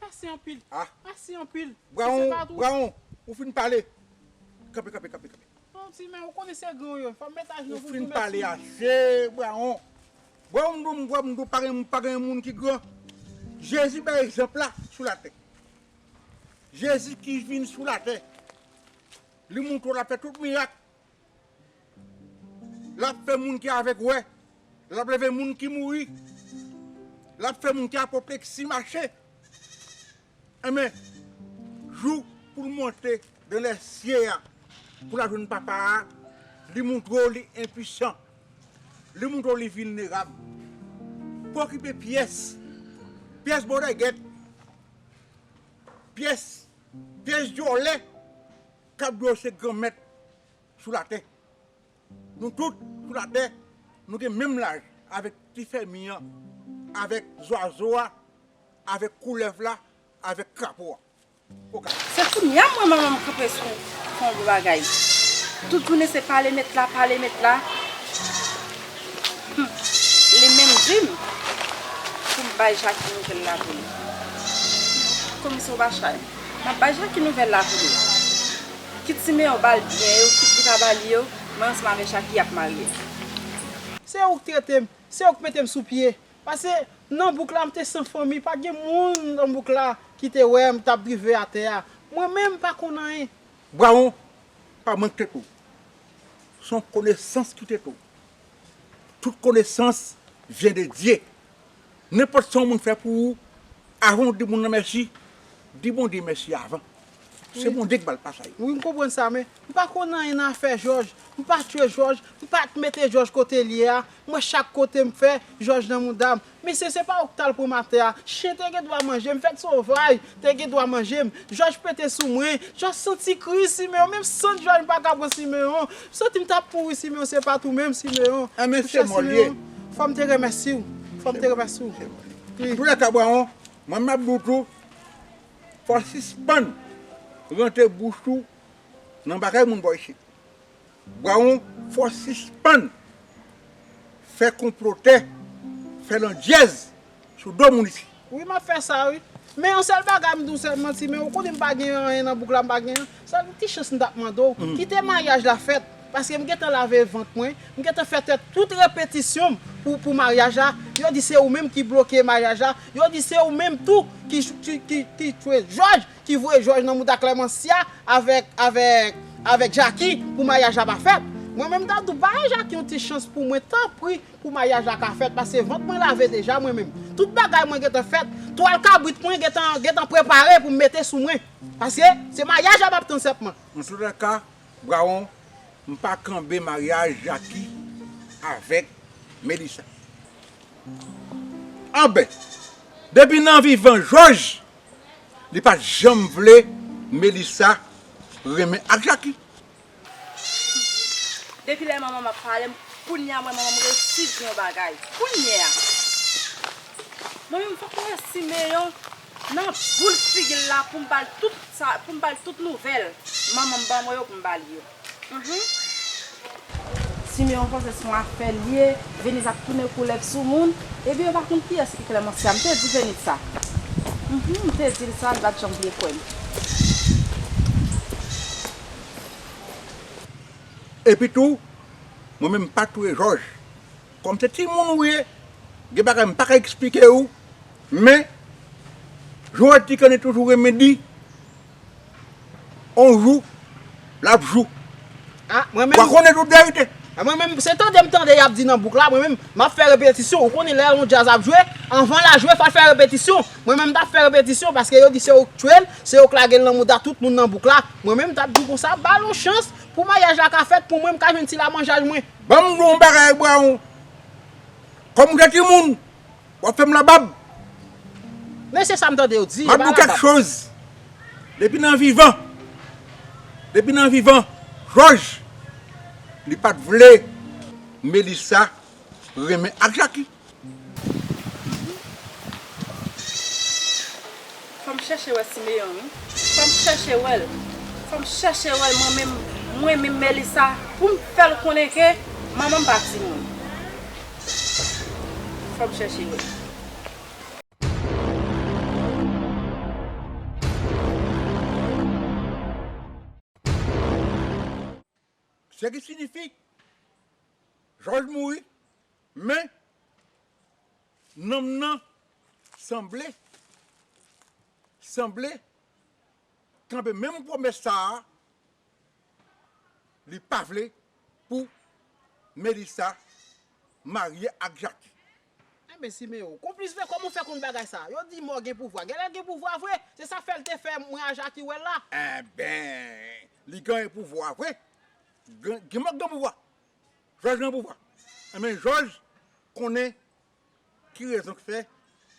Pase anpil, pase anpil. Braon, Braon, ou fin pale. Kanpe, kanpe, kanpe, kanpe. Yon ti men, ou konnen se gran ou yo. Fòm met ajenou pou m tounen sou. Ou fin pale ase, Braon. Braon m di w, m kwè m di w pa gen, pa gen moun ki gran. Jezi bay egzanp la sou latè. Jezi ki vin sou latè. Li montre w l ap fè tout mirak. L ap fè moun ki avèg wè. L ap leve moun ki mouri. L ap fè moun ki apopleksi mache. Enben, jou pou l monte nan lèsye a pou l al jwenn Papa a, li montre w li enpisan. Li montre w li vilnerab. Pa okipe pyès. Pyès bòdègèt. Pyès dyòlè. Kap dlo se gran mèt sou latè. Nou tout sou latè nou gen menm laj avèk ti fèmi an, avèk zwazo a, avèk koulèv la, avèk krapo a. Okap. Se kounya mwen manman m kanpe sou yon gwo bagay. Tout jounen se pale met la, pale met la. Hum! Li menm di m pou m bay Jackie nouvèl la pou li. Komisè ou pa chay? Nan paj la ki nouvèl la pou nou? Kit Simeyon ba l byen yo, kit li pa ba li yo, mwen ansanm avè Jaki ap marye. Se ou k trete m, se ou k mete m sou pye. Pase, nan bouk la m te san fanmi, pa gen moun nan bouk la ki te wè m, t ap drive atè a. Mwen menm m pa konn anyen. Brawon pa manke tou. S on konesans ki te tou. Tout konesans vyen de Dye. Nenpòt sa yon moun fè pou ou, avan ou di moun nan mèsi, di Bondye mèsi avan. Se Bondye ki ba l pa sa yo. Wi, m konprann sa, men, m pa konn anyen nan afè Jòj. M pa tchwe Jòj, m pa t mete Jòj kote l ye a. Mwen chak kote m fè, Jòj nan mouda m. Mesye, se pa ou ki t al pran m atè a. Chen te gen dwa manje m, fèt sovaj te gen dwa manje m. Jòj pete sou mwen. Jòj sant sikriz Simeyon. Menm sant Jòj m pa ka pran Simeyon. Santi m tap mouri Simeon se pat ou menm Simeon Ebyen se mò l ye Fòm te remèsi w Fòm te remèsi w wi. Antoulèka Bwaron mwen map di w tou fò w sispann rantre bouch ou nan bagay moun bò isit Bwaron fò w sispann fè konplotè fè landjèz sou do moun isi. Wi map fè sa wi. Men yon sèl bagay m di w sèl manti men ou konnen m pa gen anyen nan bouk la m pa gen sèl yon ti chans m tap mande w kite maryaj la fèt paske m gentan lave vant mwen m gentan fè tèt tout repetisyon m pou pou maryaj la yo di se ou menm ki bloke maryaj la yo di se ou menm tou ki ki ki tchwe jòj ki voye jòj nan mouda klèmansya avèk avèk avèk jaki pou maryaj la pa fèt mwen menm m ta di w ba jaki yon ti chans pou mwen tanpri Pou maryaj la ka fèt pase vant mwen lave deja mwen menm tout bagay mwen gentan fèt twal kabrit mwen gentan gentan prepare pou m mete sou mwen paske se maryaj la map tann sèpman. An tout ka Brawon m pa kanbe maryaj Jacky avèk Melissa anbè depi nan vivan jòj li pat janm vle Melissa renmen ak Jacky. Depi lè manmanm ap pale m kounya m wè manmanm resi di yon bagay kounya mwen menm fòk m wè simeyon nan boul figi l la poum bal tout sa poum bal tout nouvèl manmanm ban mwen yo poum bal yo humm. Simeon panse son afè l ye Venise ap tounen koulèv sou moun ebyen yo pa konn kiyès ki Clemencia m te di Venise sa humm m te di l sa li pat janm vle kwè m. Epi tou, mwen menm m pa touye jòj. Kòm se timoun ou ye, gen bagay m pa ka eksplike ou, men, jan w di kanni toujou renmen di, on jou, l ap jou. W a konnen tout verite. A mwen menm, se tande m tande y ap di nan bouk la, mwen menm, m ap fè repetisyon. Ou konnen lè on djaz ap jwe, anvan l a jwe, fò l fè repetisyon. Mwen menm m t ap fè repetisyon paske yo di se ou k touye l. Se yo k lage l nan mouda tout moun nan bouk la, mwen menm m t ap di w konsa, ba l yon chans pou maryaj la ka fèt pou mwen m ka jwenn ti lamanjay mwen. Ban m di w yon bagay Brown, kòm w gen timoun, w ap fè m labab. Men se sa m tande yo di, yo ba labab. M ap di w kèk choz, depi nan vivan, depi nan vivan Jòj, li pa t vle Melisa renmen ak Jaki. Fòm chèche wè simeyon wi. Fòm chèche wèl. Fòm chèche wèl mwen menm mwen menm melisa poum fèl konnen ke manmanm pa timoun fòm chèche wèl. Se ki sinifi, Jòj mouri, men, nanm nan sanble, sanble, kanpe menm pwomès sa a, li pa vle pou Melisa marye ak Jaki. Enben Simeon, konplis vre kòman ou fè konn bagay sa? Yo di mò gen pouvwa, genlè l gen pouvwa vre, se sa fè l te fè mwen a Jaki wè l la. Enben, li gen pouvwa vre, gen mò k gen pouvwa, Jòj gen pouvwa, enben Jòj konnen ki rezon k fè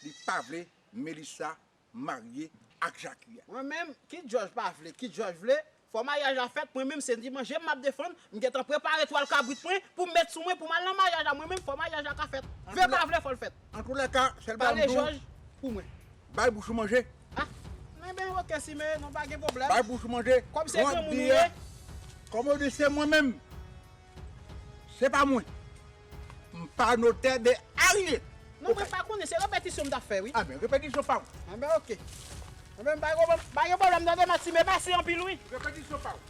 li pa vle Melissa marye ak jaki a. Mwen menm kit jòj pa vle kit jòj vle fò maryaj la fèt mwen menm se di manjem map defann m gentan prepare twal kabrit mwen poum met sou mwen poum al nan maryaj la mwen menm fò maryaj la ka fèt vle pa vle fòl fèt antoulèka sèl bagay map diw pale jòj pou mwen bay bouch ou manje ah enben ok si men non pa gen pwoblèm bay bouch ou manje kòm se granmoun ou ye kòm ou di se mwen menm se pa mwen. M pa notè de anyen. Non mwen pa konnen se repetisyon m ta fè wi. Ah ben repetisyon pa ou. Ah ben ok. Ah ben m pa konprann pa gen pwoblèm tande Maxime mèsi anpil wi. Repetisyon pa ou.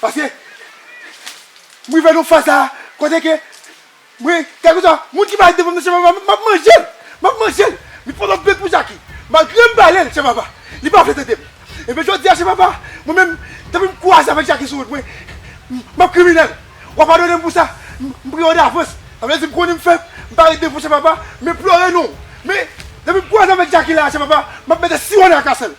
Paske, m rive nan faz la a, kote ke, mwen, kèlkeswa, moun ki pale devan m nan Chèf Aba, m ap manje l! M ap manje l! Men pandan m peye pou Jaki, malgre m pale l, Chèf Aba, li pa vle tande m. Ebyen jodi a, Chèf Aba, mwen menm, depi m kwaze avèk Jaki sou wout mwen, m ap kriminèl. W a padone m pou sa, m priyè w davans. Sa vle di m konnen m fèb, m pa ret devan Chèf Aba, m enplore non w. Men, depi m kwaze avèk Jaki la a, Chèf Aba, m ap mete siwo nan akasè l.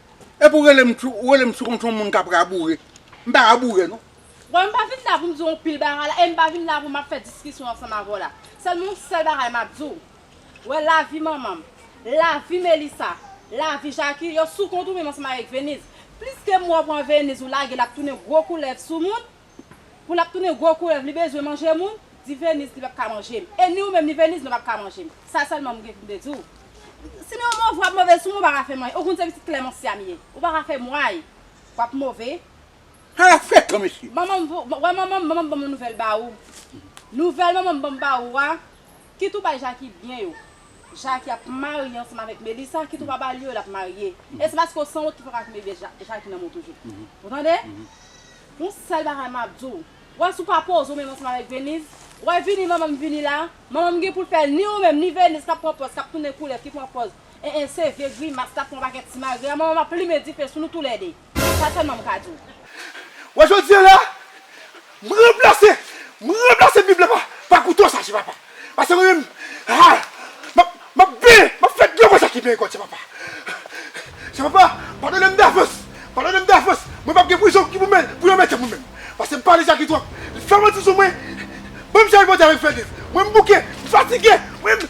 Epi ou rele m ou rele m sou kont yon moun k ap raboure. M pa raboure non. Bon m pa vin la pou m di w yon pil bagay la e m pa vin la pou m ap fè diskisyon ansanm avè w la. Sèlman yon sèl bagay m ap di w, wè lavi manman m, lavi Melisa, lavi Jaki yo sou kont ou menm ansanm avèk Veniz. Pliske mwa w pran Veniz ou lage l ap tounen gwo koulèv sou moun, Pou lap tounen gwo koulèv li bezwen manje moun, di Venise li pap ka manjem e ni ou menm ni Venise nou pap ka manjem. Sa sèlman m gen poum te diw. Sinon yon move wap move sou mwen ou paka fèm anyen. Ou konn se pitit Clemencia m ye. Ou paka fèm way. Wap move. Hala frekan mesye. Manmanm wè manmanm manmanm banm yon nouvèl ba ou nouvèl manmanm banm ba ou a. Kit ou bay Jacky byen yo. Jacky ap marye ansanm avèk Melissa kit ou pa bal yo lap marye e se paske w sanwont ki paka kenbe bgy Jacky nan menw toujou ou tande yon sèl bagay map di w wè si w pa poze w menm ansanm avèk Venise wè vini manman m vini la manman m gen pou l fè ni ou menm ni Venise kap pran pòz kap tounen koulèv ki pran pòz en en se vye grimas kap pran pakèt simagrè a manman m ap limen dife sou nou tou lè 2. Sa sèlman m ka di w. Wè jodi an la, m ranplase, m ranplase bib la pa kouto sa ti papa. Pase mwen menm, ha, m ap, m ap benyen, m ap fè dlo sa ki benyen kò ti papa. Ti papa, padone m davans, padone m davans, mwen p ap gen prizon ki pou mè, pou yon mèt mwen menm. Pase m pale Jaki twòp, li fè manti sou mwen, ban m Jaki Bondye avè m fè liv. Mwen m bouke, m fatige, mwen m.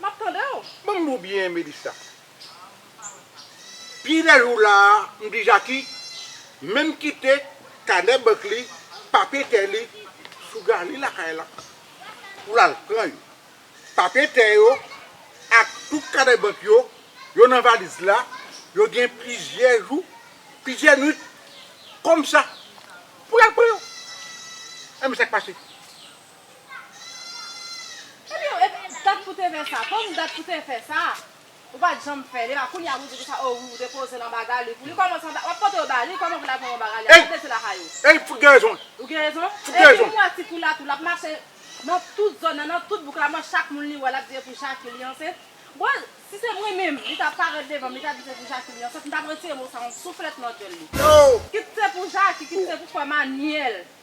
Map tande w. Ban m dou byen Melissa. Pi de jou la a m di Jacky menm kite kanè bank li, papye tè li sou gali lakay la pou l al pran yo. Papye tè yo ak tout kanè bank yo, yo nan valiz la, yo gen plizyè jou, plizyè nwit kòm sa pou l al pran yo. Enben sa k pase? Epi ou epi dat pou te fè sa konn dat pou te fè sa ou pat janm fèl epa kounya pou di pou sa oh wi ou te pozel anba Galy pou li kòman sa wap pote yo ba li kòman pou lal pran yo anba Galy a gad lese lakay ou. Ey fout gen rezon l. Ou gen rezon. Epi m wè ti kou la tou lap mache nan tout zòn nan nan tout bouk la mwen chak moun li wè lap di e pou Jacky li ansent bon si se mwen menm li ta parèt devanm li ta di se pou Jacky li ansent m tap retire mo sa yon souflèt nan dyòl li kit se pou Jacky kit se pou frè Manuel.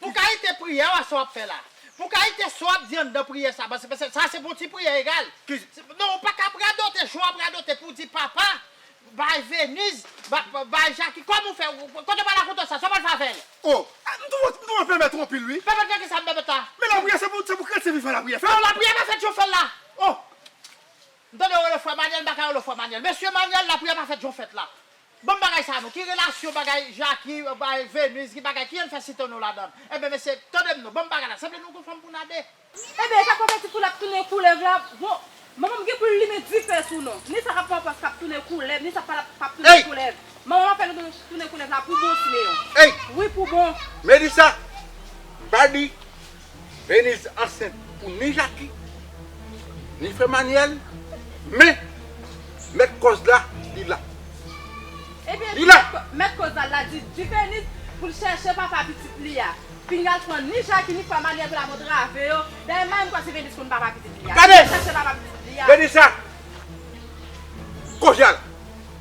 Pou kalite priyè wa sa wap fè la. Pou kalite sa wap di anndan priyè sa paske se sa se pou yon ti priyè egal. Non ou paka ap radote jan wap radote pou di papa bay Venise bay Jackie kòman ou fè kote ou pral rakonte sa sa ou pral fè avèl. Oh m twouve m twouve pèpè twò anpil wi. Pèpè nan kisa pèpè ta. Men lapriyè se pou se pou kretyen vivan lapriyè fèt. Non lapriyè pa fèt jan w fèl la oh. M tande yo rele frè Manuel m paka rele w frè Manuel mesye Manuel lapriyè pa fèt jan w fèt la. Banm bagay sa non ki relasyon bagay Jacki bay Venus ki bagay kijan n fè sitano ladann enben mesye tande m non banm bagay la sanble nou gon fanm pou na 2. Enben esak pral fè ti koulèv tounen koulèv la bon manmanm gen poul limen difè sou nou ni sa kap pran pòz kap tounen koulèv ni sa pap tounen koulèv manmanm ap fè nou tounen koulèv la pou bon ti Léon wi pou bon. Melissa m pa di Veniz ansent pou ni Jaki, ni frè Manyèl, men mèt kòz la li la. Ebyen di mèt kòz la li la, di Veniz pou l chèche papa pitit li a. Pinga al pran ni Jaki ni frè Manyèl pou l al antrave yo. Dayè Manyèl m kwè se Veniz konn papa pitit li a. Veniz chèche papa pitit li a. Veniz sa, kòz la la.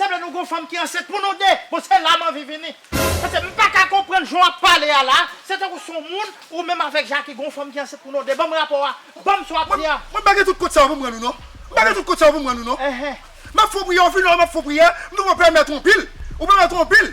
Sanble nou gon fanm ki ansent pou nou 2, bon se la m anvi vini. Pase m pa ka konprann jan w ap pale a la, se tankou s on moun, ou menm avèk Jackie gon fanm ki ansent pou nou 2, ban m rapò a, ban m sa w ap di a. Mwen pa gen tout kont sa yo pou m rann ou non, m pa gen tout kont sa yo pou m rann ou non. M ap fè w priyè, ou fin wè m ap fè w priyè, m tou pran pèmèt ou anpil, ou pèmèt ou anpil.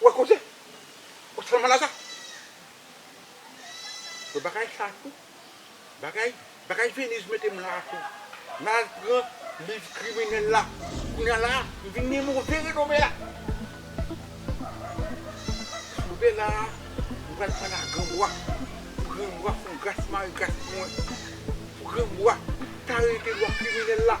Ou wè koze? Ou tèlman laza. Bon bagay sa tou. Bagay, bagay Venise mete m la a tou. M al pran liv kriminèl la. Kounya la a, m vin gen move renome la. Rive la a, m pral pale a granmwa. Pou granmwa fè yon gras mare gras pou mwen. Pou granmwa ta rete lwa kriminèl la.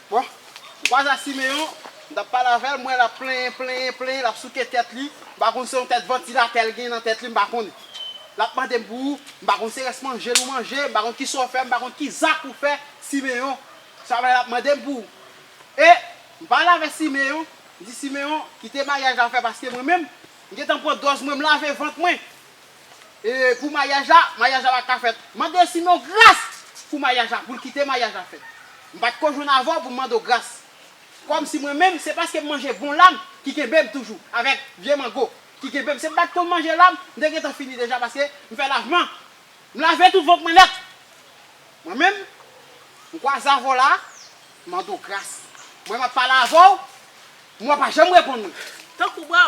Bon, Waza Simeon, m t ap pale avè l, m wè l ap plenyen, plenyen, plenyen, l ap souke tèt li, m pa konn se yon tèt vantilatè l gen nan tèt li, m pa konn. L ap mande m pou ou, m pa konn se rès manje l ou manje, m pa konn kisa w fè, m pa konn ki zak ou fè, Simeon. Se apre l ap mande m pou ou. E, m pale avè Simeon, m di Simeon, kite maryaj la fè paske mwen menm, m gen tan pran dòz mwen, m lave vant mwen. E pou mayaj la, mayaj la pa t ka fèt. Mande Simyon gras pou mayaj la, pou l kite mayaj la fèt. M pa t ko jwenn avè w pou m mande w gras. Kòmsi mwen menm, se paske m manje bon lam ki kenbe m toujou, avèk vye mango ki kenbe m. Si m pa t konn manje lam, m te gentan fini deja paske m fè lavman. M lave tout vant mwen nèt. Mwen menm, m kwaze avè w la a, m mande w gras. Mwen m ap pale avè w, mwen w pa janm reponn mwen. Tankou bò,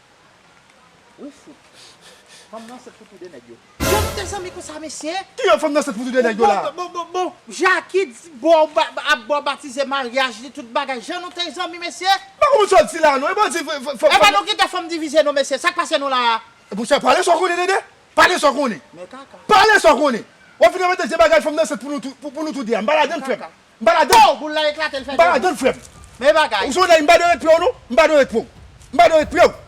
Wi fout. Fanm nan ansent pou tou 2 nèg yo. Yo kite zanmi konsa mesye. Ki yo fanm nan ansent pou tou 2 nèg yo la. Bon bon bon Jacky ap bo batize maryaj li tout bagay jan nou te zanmi mesye. M pa konprann sa w di la non. Epa w di fanm nan. Epa nou kite fanm divize nou mesye sak pase nou la a. Bon sa pale sa w konnen dede. Pale sa w konnen. Pale sa w konnen. Wap vin envante vye bagay fanm nan ansent pou nou tou 2 a. M pa ladann frè m. M pa ladann. Pow! Boul la eklate l fè 2 bò. M pa ladann frè m. Men bagay. Ou sou nèg m pa dwe ret pre w non. M pa dwe ret pre w. M pa dwe ret pre w.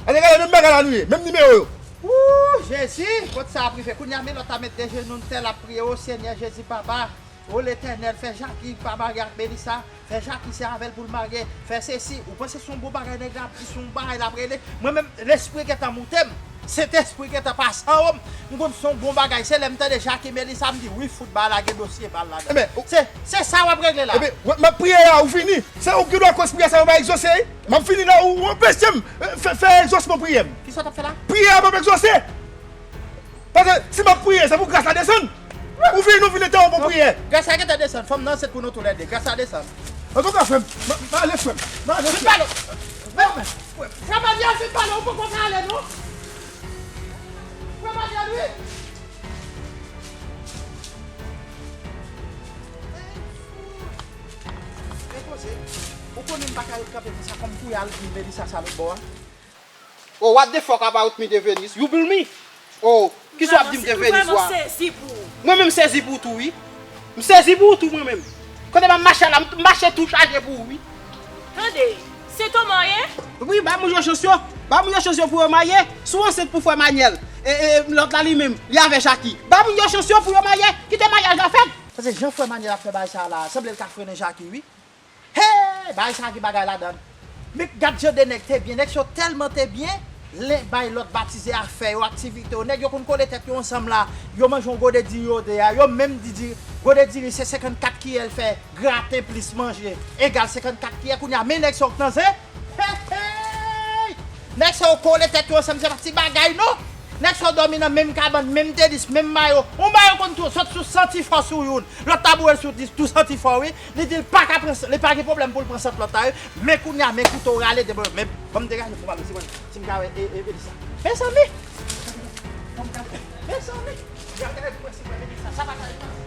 An nou gade menm bagay la nou ye. Menm nimewo yo. Ooh Jezi! Kot sa ap rive kounye a Melot a met de jenou n tè l ap priye o Senyè Jezi Papa o Letènèl fè Jaki pa marye ak Melissa fè Jaki se avè l pou l marye fè sesi ou panse se yon bon bagay nèg la ap di se yon bagay l ap rele mwen menm lespri gentan moute m Sentespri gentan pase an wom m konn son bon bagay se lèm tande Jacques et Melissa m di wi fout ba la gen dosye bal ladann se se sa wap regle la. Ebyen wè map priye a ou fini se ou ki dwa koz priyè sa yo pa egzose wi map fini la ou anpechem fè fè egzosman priyèm. Kisa wap fè la? Priyè a pap egzose paske si map priye se pou gras la desann ou fini ou fini te yon bon priyè. Gras la gentan desann fanm nan ansent pou nou tou lède gras la desann. Antouka frèm m ale frèm m ale frèm. Vin pale. Frè Manuel vin pale ou poko ka ale non Frè Manuel wi Depoze Ou konnen m paka ret kanpe konsa fòm kouye al hmi Melissa sa lotbò a Oh what the fuck about me Devenus You blmi Oh kisa wap dim te veni swa. Mwen menm sezi pou ou tou wi. M sezi pou ou tou mwen menm. Kote map mache ala m mache tou chaje pou ou wi. Tande, se to man ye? Wi ba moun yo chans yo. Ba moun yo chans yo pou yo marye. Si w ansent pou frè Manyèl e lòt la li menm li avè Jaki. Ba moun yo chans yo pou yo marye. Kite maryaj la fèt. Tande jan frè Manyèl ap fè bagay sa la sanble l ka frennen Jaki wi. Hee bagay sa gen bagay ladann Mec gad jan de nèg te byen nèg sa yo tèlman te byen len bay lòt batize afè yo aktivite yo nèg yo konn kole tèt yo ansanm la yo manje yon gode diri yo 2 a yo menm di diri gode diri se 54 kiyè l fè graten plis manje egal 54 kiyè kounye a men nèg sa yo k nan zen heeyy nèg sa yo kole tèt yo ansanm se pa ti bagay non nèg sa yo dòmi nan menm kabann menm tenis menm mayo yon mayo konn tou sot sou 100 ti fò sou youn lòt ta boure l sou 10 tou 100 ti fò wi. Li dil paka pran li pa gen problèm poul pran sant lòt la wi men kounya men kouto rale de bòl men banm degaje pou male si mwen sim ka wè e e Melissa mezanmi mezanmi degaje pou mwen sim wè Melissa sa paka ret konsa.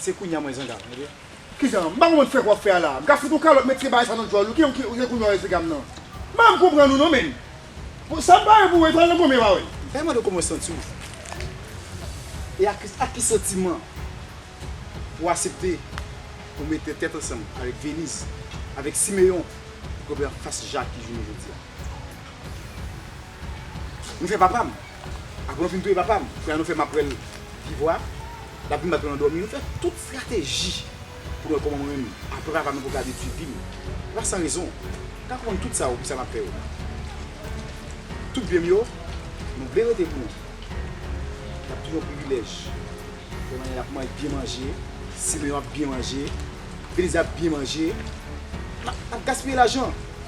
Se kounya mwen zangal tande. Kijan? M pa konprann frenk wap fè a la. M ka fout ou kalòt met tye bagay sa nan djòl ou. Kijan ki se kounya w esplikamm nan. M pa janm konprann ou non menn. Bon sam pa wè pou wè pral nan gonmen pa wè. M ta mande w kòman w santi w. E ak ak ki santiman ou asepte pou mete tèt ansanm avèk Veniz, avèk Simeon pou kanpe anfas Jacques jounen jodia. Nou fè papa m. Apre nou fin touye papa m, kounye a nou fè m apre l viv vwa a. L ap vin bat nou nan dòmi. Nou fè tout estrateji pou nou wè kòman mwen menm apre papa m nan pou l ka vin suiv vi m. Se pa san rezon. Ou ka konprann tout sa yo pou sa m ap fè yo. Tout byen m yo, nou vle rete pou nou. L ap toujou yon privilèj. Pè Manel ap byen manje. Simeyon ap byen manje. Belize ap byen manje. L ap gaspiye lajan.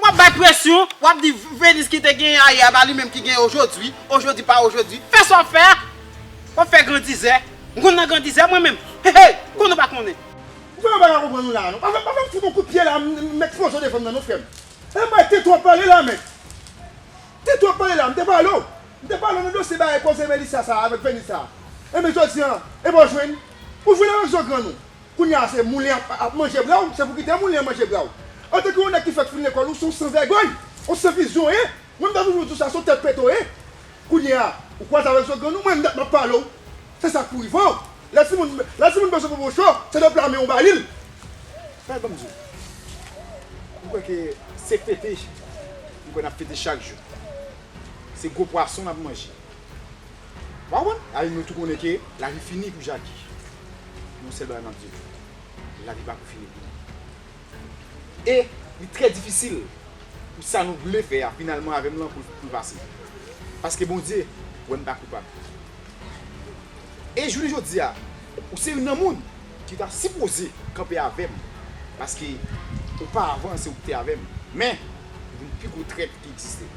Wap bay presyon, wap di Venus ki te genyen ayè a pa li menm ki genyen ojodwi, ojodwi pa ojodwi. Fè sa wap fè a! Wap fè grandizè. M konn nan grandizè mwen menm. Hehey! Konn ou pa konnen. Ou fè yon bagay m pa konprann ou la a non. Pa fè m fout yon kout pye la a m met pwozo devan m nan non frè m. Ou bay tèt ou ap pale la a mèt. Tèt ou ap pale la a. M te pale w. M te pale w nan dosye bagay koze Melissa sa a avèk Venus sa a. Enben jodi an, enben w jwenn. Ou jwenn avèk zo grann ou. Kounye a se moulen ap manje bra w, se pou kite moulen manje bra w. Antanke yon nèg ki fèk fin lekòl ou se yon san vègòy, yon san vizyon w ye, mwen m ta toujou di w sa se yon tèt pete w ye. Kounye a ou kwaze avèk zo grann ou, mwen m dat m ap pale w se sa k pou rive w. Lè timoun bezwen popo cho se de pla men ou ba li l. Tande ban m di w, m kwè ke se fete, m kwè n ap fete chak jou. Se gwo pwason n ap manje. Wa wè, al nou tou konnen ke lavi fini pou Jaki. Yon sèl bagay map di nou, lavi pa pou fini pou li. E li trè difisil pou sa nou vle fè a finalman avè m lan pou l pase. Paske Bondye wè m pa koupab. E jounen jodi a, ou se youn nan moun ki ta sipoze kanpe avè m, paske opa avan se ou ki te avè m, men ou vin pi gwo trèt ki egziste.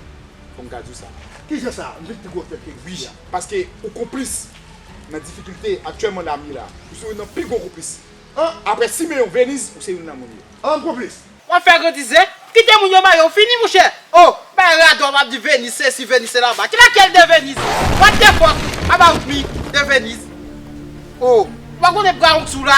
Fò m ka di w sa. Ki jan sa? M vin pi gwo fèt ke Guy a. Paske ou konplis nan difikilte aktyèlman Dam ye la. Ou se youn nan pi gwo konplis. Aprè Simeon, Venise, ou se youn nan moun yo. An m konplis? W ap fè grandizè? Kite moun yo mare w fini mouchè! O! Bay radòt w ap di Venise sesi, Venise se la ba. Ki lakyèl de Venise? What the fuck about me de Venise? O! Ou pa konnen brawon k sou la?